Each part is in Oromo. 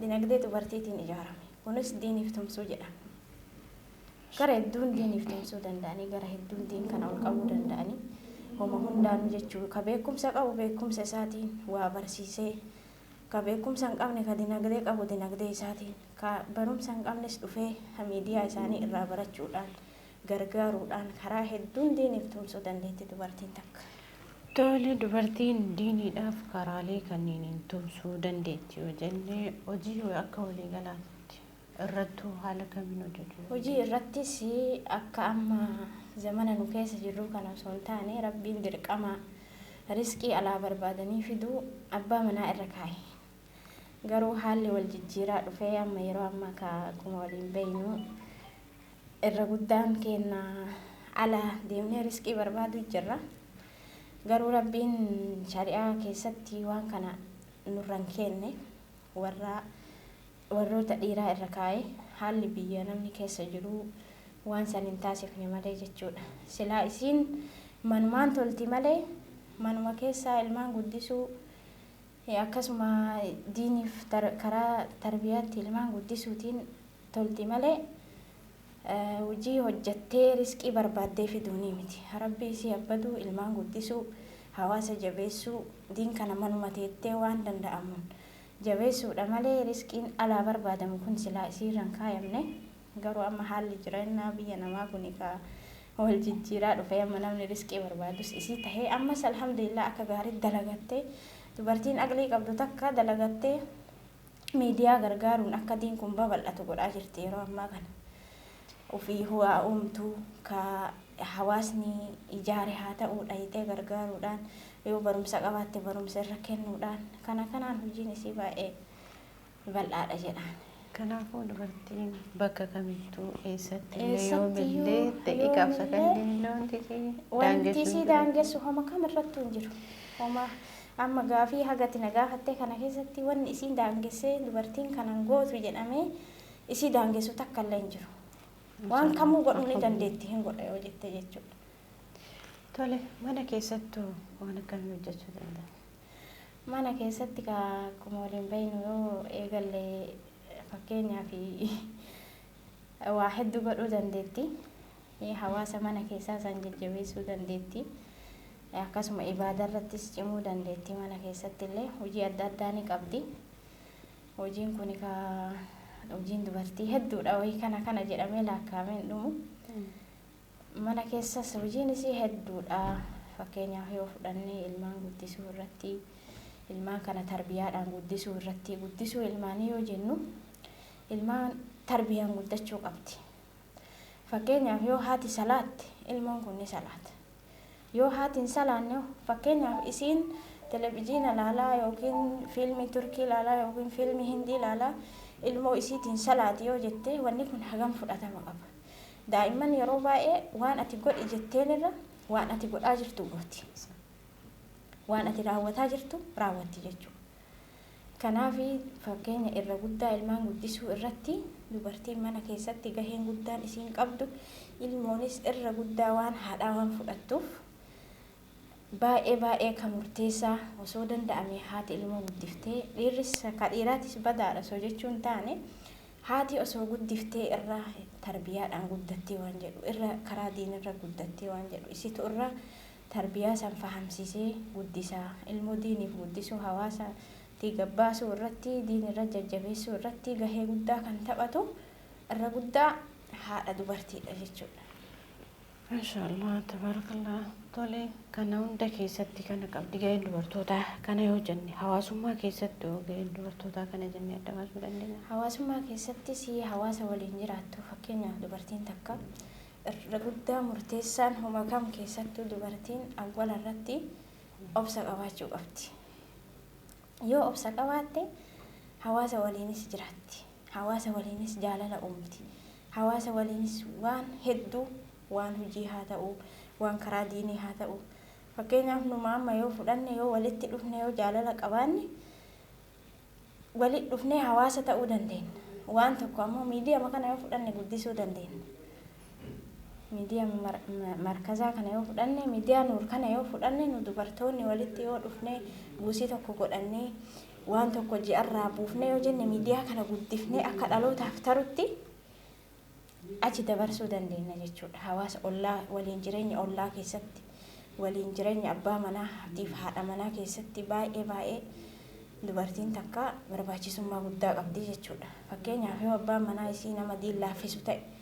Dinagdee dubartiitiin ijaarame. Kunis diiniif tumsuu jedhama. Gara hedduun diiniif tumsuu danda'anii, gara hedduun diin kana ol qabuu danda'anii, homa hundaanuu jechuu ka beekumsa qabu beekumsa isaatiin waa barsiisee, ka beekumsa hin qabne ka dinagdee qabu dinagdee isaatiin, ka barumsa hin qabnes dhufee miidiyaa isaanii irraa barachuudhaan gargaaruudhaan karaa hedduun diiniif tumsuu dandeetti dubartiin takka. Tole, dubartiin diiniidhaaf karaalee kanniiniin tumsuu dandeetti yoo jenne, hojii akka walii galaatti irrattuu haala kamiin hojjachuu dandeetti? Hojii irrattis akka amma zamana nu keessa jirruu kana osoo hin taane Rabbiin dirqama rizqii alaa barbaadanii fiduu abbaa manaa irra kaaye. Garuu haalli wal jijjiiraa dhufee amma yeroo ammaa ka akkuma waliin beeynu Irra guddaan keenna ala deemnee risqii barbaaduu jirra. Garuu Rabbiin shari'aa keessatti waan kana nurra hin keenne. Warra warroota dhiiraa irra kaa'ee haalli biyya namni keessa jiruu waan san hin taasifne malee jechuudha. Silaa isiin manumaan tolti malee manuma keessaa ilmaan guddisuu Akkasuma diiniif karaa tarbiyaatti ilmaan guddisuutiin tolti malee hujii hojjattee risqii barbaaddee fiduunii miti. Rabbi isii abbaduu, ilmaan guddisuu, hawaasa jabeessuu, diin kana manuma teettee waan danda'amuun jabeessuudha malee risqiin alaa barbaadamu kun silaa isiirra hin kaayamne. Garuu amma haalli jireenyaa biyya namaa kuni ka wal jijjiiraa dhufee amma namni risqii barbaadus isii tahee ammas alhamdulillah akka gaariitti dalagattee dubartiin aqlii qabdu takka dalagattee miidiyaa gargaaruun akka diin kun babal'atu godhaa jirti yeroo ammaa kana. Ufii huwaa uumtu ka hawaasni ijaare haa ta'uu dhayxee gargaaruudhaan yoo barumsa qabaatte barumsa irra kennuudhaan kana kanaan hojiin isii baay'ee bal'aadha jedhaan. Kanaafuu dubartiin bakka kamittuu eessattillee yoomillee ta'e gaafsakalleen wanti si wanti si daangessu homa kam irrattuu hin jiru. Homa amma gaafii hagati na gaafattee kana keessatti wanni isiin daangessee dubartiin kanan gootu jedhamee isii daangessu takkallee hin jiru. Waan kamuu godhuu ni dandeetti hin godha yoo jette jechuudha. Tole mana keessattuu waan akkamii hojjechuu danda'a? Mana keessatti kaa akkuma waliin beeknu yoo eegalle fakkeenyaaf waa hedduu godhuu dandeetti. Hawaasa mana keessaa san jajjabeessuu dandeetti. Akkasuma ibaadaa irrattis cimuu dandeetti mana keessatti illee hojii adda addaa ni qabdi. Hojiin kun kaa hojiin dubartii hedduudha wayii kana kana jedhamee laakkaa'amee hin dhumu. Mana keessas hojiin isii hedduudha. Fakkeenyaaf yoo fudhanne ilmaan guddisuu irratti, ilmaan kana tarbiyaadhaan guddisuu irratti, guddisuu ilmaanii yoo jennu ilmaan tarbiyaan guddachuu qabdi. Fakkeenyaaf yoo haati salaatte ilmoon kun ni salaata. Yoo haati hin salaanne fakkeenyaaf isiin televijiina laalaa yookiin fiilmii Turkii laalaa yookiin fiilmii Hindii laalaa ilmoo isiitiin salaati yoo jette wanni kun hagam fudhatama qaba. Daa'imman yeroo baay'ee waan ati godhi jetteen irra waan ati godhaa jirtu gooti. Waan ati raawwataa jirtu raawwatti jechuudha. Kanaaf fakkeenya irra guddaa ilmaan guddisuu irratti dubartiin mana keessatti gaheen guddaan isiin qabdu ilmoonis irra guddaa waan haadhaa waan fudhattuuf baay'ee baay'ee kan murteessaa osoo danda'ame haati ilmoo guddiftee dhiirris ka dhiiraatis badaadha osoo jechuun taane Haati osoo guddiftee irra tarbiyaadhaan guddattee waan jedhu irra karaa diinirra guddattee waan jedhu isitu irra tarbiyaa san fahamsiisee guddisa. Ilmoo diiniif guddisuu hawaasa tii gabbaasuu irratti diin irra jajjabeessuu irratti gahee guddaa kan taphatu irra guddaa haadha dubartiidha jechuudha. Mashallah tabarakallah tole kana hunda keessatti kana qabdi ga'een dubartootaa kana yoo jenne hawaasummaa keessatti yoo ga'een dubartootaa kana jennee adda baasuu dandeenya. Hawaasummaa keessatti si hawaasa waliin jiraattu fakkeenyaaf dubartiin takka irra guddaa murteessaan homa kam keessattuu dubartiin awwala irratti obsa qabaachuu qabdi. Yoo obsa qabaatte hawaasa waliinis jiraatti. Hawaasa waliinis jaalala uumti. Hawaasa waliinis waan hedduu waan hujii haa ta'u, waan karaa diinii haa ta'u. Fakkeenyaaf numa amma yoo fudhanne yoo walitti dhufne yoo jaalala qabaanne walitti dhufnee hawaasa ta'uu dandeenna. Waan tokko ammoo miidiyama kana yoo fudhanne guddisuu dandeenna. miidiyaa markazaa kana yoo fudhanne miidiyaa nuur kana yoo fudhanne nu dubartoonni walitti yoo dhufne buusii tokko godhannee waan tokko ji'arraa buufnee yoo jenne miidiyaa kana guddifnee akka dhalootaaf tarutti achi dabarsuu dandeenya jechuudha. Hawaasa ollaa waliin jireenya ollaa keessatti waliin jireenya abbaa manaa fi haadha manaa keessatti baay'ee baay'ee dubartiin takka barbaachisummaa guddaa qabdi jechuudha. Fakkeenyaaf yoo abbaan manaa isii nama diin laaffisu ta'e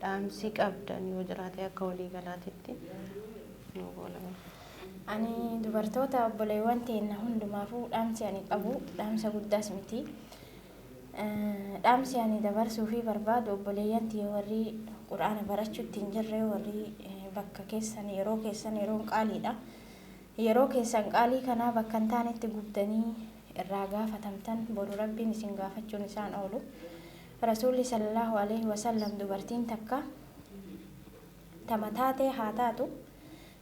Dhaamsi qabdan yoo jiraate akka walii galaatitti nuu goolabaa. Ani dubartoota obboleewwan teenna hundumaafuu dhaamsi ani qabu dhaamsa guddaas miti. Dhaamsi ani dabarsuufii barbaadu obboleeyyan tiyya warri Qur'aana barachuutti hin jirre warri bakka keessan yeroo keessan yeroon qaaliidha. Yeroo keessan qaalii kanaa bakka hin taanetti gubdanii irraa gaafatamtan boru Rabbiin isin gaafachuun isaan oolu. Rasuulli sallallaahu aleeyhi wasallam dubartiin takka tama taatee haa taatu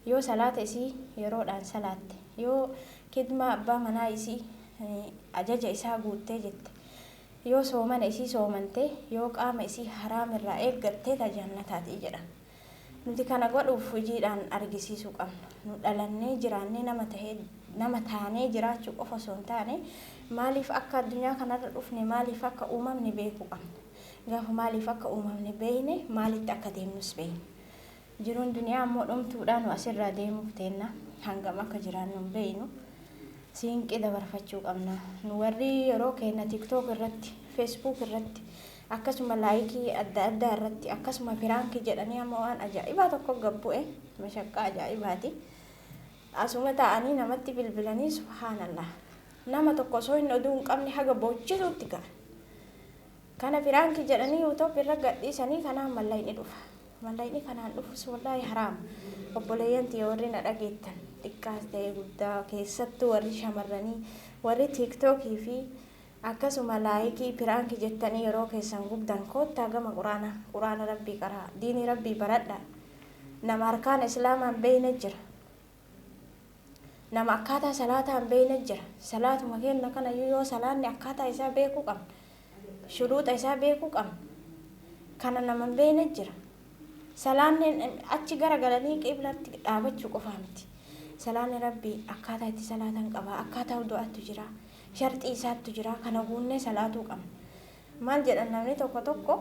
yoo salaata isii yeroodhaan salaatte, yoo kidmaa abbaa manaa isii, ajaja isaa, guuttee jette, yoo soomana isii soomante, yoo qaama isii haraam irraa eeggatte ta jannataati jedhan. Nuti kana godhuuf hojiidhaan argisiisuu qabna. Nu dhalannee, jiraannee nama tahee, nama taanee jiraachuu qofa osoo hin taane, maaliif akka addunyaa kanarra dhufne, maaliif akka uumamne beekuu qabna. Gaafa maaliif akka uumamne beekne, maalitti akka deemnus beekna. Jiruun duniyaa ammoo dhumtuudha, nu asirraa deemuuf teenna. Hangam akka jiraannu hin beeknu. Siinqii dabarfachuu qabna. Nu warri yeroo keenna TikTok irratti, Facebook irratti, akkasuma like adda addaa irratti akkasuma piraanki jedhanii amma waan ajaa'ibaa tokko gad bu'e mashaqqaa ajaa'ibaati asuma taa'anii namatti bilbilanii subhaanallah nama tokko osoo hin oduu hin qabne haga boochisuutti ga'a kana piraanki jedhanii yuutuubi irra gadhiisanii kanaan mallayni dhufa mallayni kanaan dhufus wallaahi haraam obboleeyyan tiyya warri na dhageettan xiqqaas ta'e guddaa keessattuu warri shamarranii warri tiiktookii fi Akkasuma laayikii piraanki jettanii yeroo keessan gubdan koottaa gama quraana quraana rabbii qara'a diinii rabbii baradhaa nama arkaana islaamaa hin beeyne jira nama akkaataa salaataa hin beeyne jira salaatuma keenna kanayyuu yoo salaanni akkaataa isaa beekuu qabna shuruuxa isaa beekuu qabna kana nama hin beeyne jira salaanni achi gara galanii qiblatti dhaabachuu qofaa miti salaanni rabbii akkaataa itti salaatan qaba akkaataa wudu'aattu jira Sharxii isaattu jira. Kana guunnee salaatuu qabna. Maal jedhan namni tokko tokko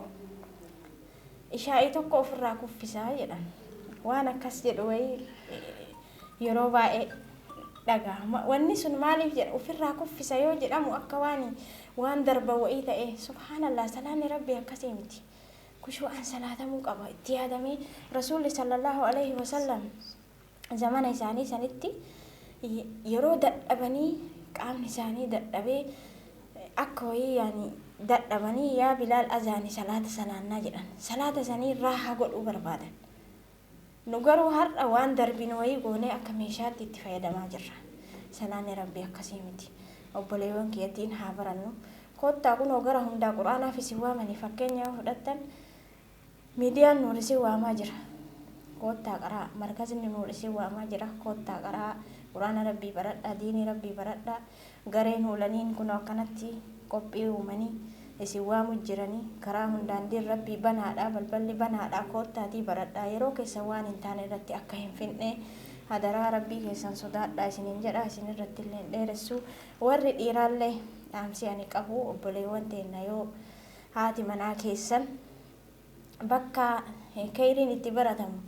ishaa'ii tokko ofirraa kuffisaa jedhan. Waan akkas jedhu wayii yeroo baay'ee dhagahama. Wanni sun maaliif jedha ofirraa kuffisa yoo jedhamu akka waan waan darba wayii ta'ee subhaanallah salaanni rabbii akkasii miti. Kushuu'aan salaatamuu qaba itti yaadamee rasuulli sallallahu alayhi wasallam zamana isaanii sanitti yeroo dadhabanii qaamni isaanii dadhabee akka wayii yaani dadhabanii yaa bilaal azaani salaata salaannaa jedhan salaata sanii raahaa godhuu barbaadan nu garuu har'a waan darbinu wayii goonee akka meeshaatti itti fayyadamaa jirra salaanni rabbii akkasii miti obboleewwan kiyyattiin haa barannu koottaa kunoo gara hundaa quraanaaf isin waamanii fakkeenya yoo fudhattan Miidiyaan Nuur isin waamaa jira. Koottaa qaraa. Markazni Nuur isin waamaa jira. Koottaa qaraa. Qur'aana Rabbii baradhaa. Diinii Rabbii baradhaa. Gareen huulaniin kunoo akkanatti qophii uumanii isin waamu jirani. Karaa hundaan diin Rabbii banaadha. Balballi banaadha. Koottaatii baradhaa. Yeroo keessan waan hin taane irratti akka hin finne hadaraa Rabbii keessan sodaadhaa isiniin jedha. Isin irratti illee hin dheeressu. Warri dhiiraallee dhaamsii ani qabu obboleewwan teenna yoo Haati manaa keessan bakka keyriin itti baratamu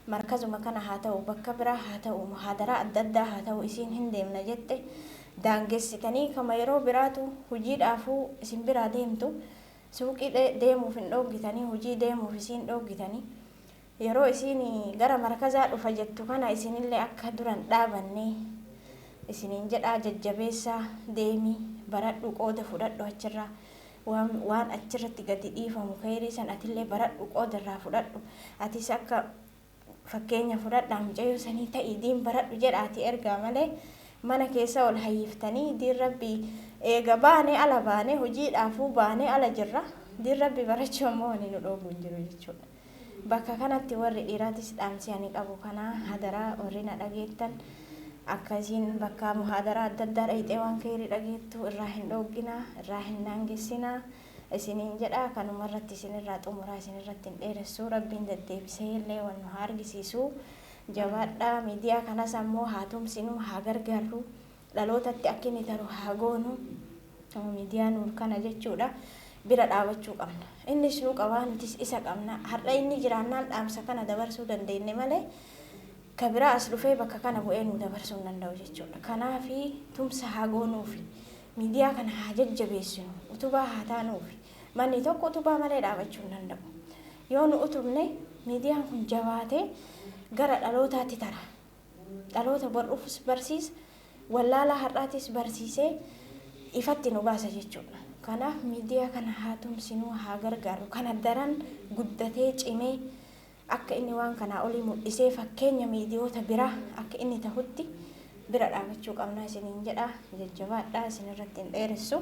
markazuma kana haa ta'u bakka biraa haa ta'u muhaadaraa adda addaa haa ta'u isiin hin deemna jette daangessitanii kama yeroo biraatu hujiidhaafuu isin biraa deemtu suuqii deemuuf hin dhooggitanii hujii deemuuf isiin dhooggitanii Yeroo isiin gara markazaa dhufa jettu kana isinillee akka dura hin dhaabanne isiniin jedhaa jajjabeessaa deemi baradhu qooda fudhadhu achirraa waan waan achirratti gadi dhiifamu keeyrii san atillee baradhu qooda irraa fudhadhu atis akka fakkeenya fudhadhaa mucayyoo sanii ta'i diin baradhu jedhaati ergaa malee mana keessa ol hayyiftanii diin rabbii eega baane ala baane hojiidhaafuu baane ala jirra diin rabbii barachuu ammoo wani nu dhoogu hin jiru jechuudha. Bakka kanatti warri dhiiraatis dhaamsi ani qabu kana hadaraa warri na dhageettan akka isiin bakka muhaadaraa adda addaa dhayxee waan keeyrii dhageettu irraa hin dhooggina irraa hin daangessina isiniin jedha kanuma irratti isin irraa xumuraa isin irratti hin dheeressu rabbiin deddeebisee illee wal nu haa argisiisu jabaadhaa miidiyaa kanas ammoo haa tumsinu haa gargaarru dhalootatti akkini taru haa goonu midiyaa nuur kana jechuudha bira dhaabachuu qabna innis nu qabaa nutis isa qabna har'a inni jiraannaan dhaamsa kana dabarsuu dandeenne malee ka biraa as dhufee bakka kana bu'ee nu dabarsuu hin danda'u jechuudha kanaafi tumsa haa goonuufi midiyaa kana haa jajjabeessinu utubaa haa taanuufi manni tokko utubaa malee dhaabachuu hin danda'u yoo nu utubne midiyaan kun jabaatee gara dhalootaatti tara dhaloota bor'uufis barsiisa, wallaalaa har'aatis barsiisee ifatti nu baasa jechuudha. Kanaaf miidiyaa kana haa tumsinu, haa gargaarru. Kana daran guddatee cimee akka inni waan kanaa olii mul'isee fakkeenya miidiyoota biraa akka inni tahutti bira dhaabachuu qabna isiniin jedha. Jajjabaadhaa isinirratti hin dheeressu.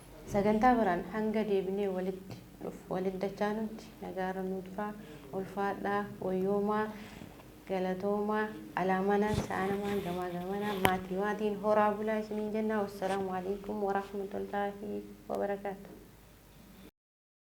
Sagantaa biraan hanga deebinee walitti dhuf walitti dachaanutti nagaarra nuu turaa. Ulfaadhaa. Wayyoomaa. Galatoomaa. Alaa manaan sa'aa namaan gamaa gamanaan maatii maatiin horaa bulaa isiniin jennaa. Wassalaamu Aleeykum Warahmatullaahi Wabarakaatuh.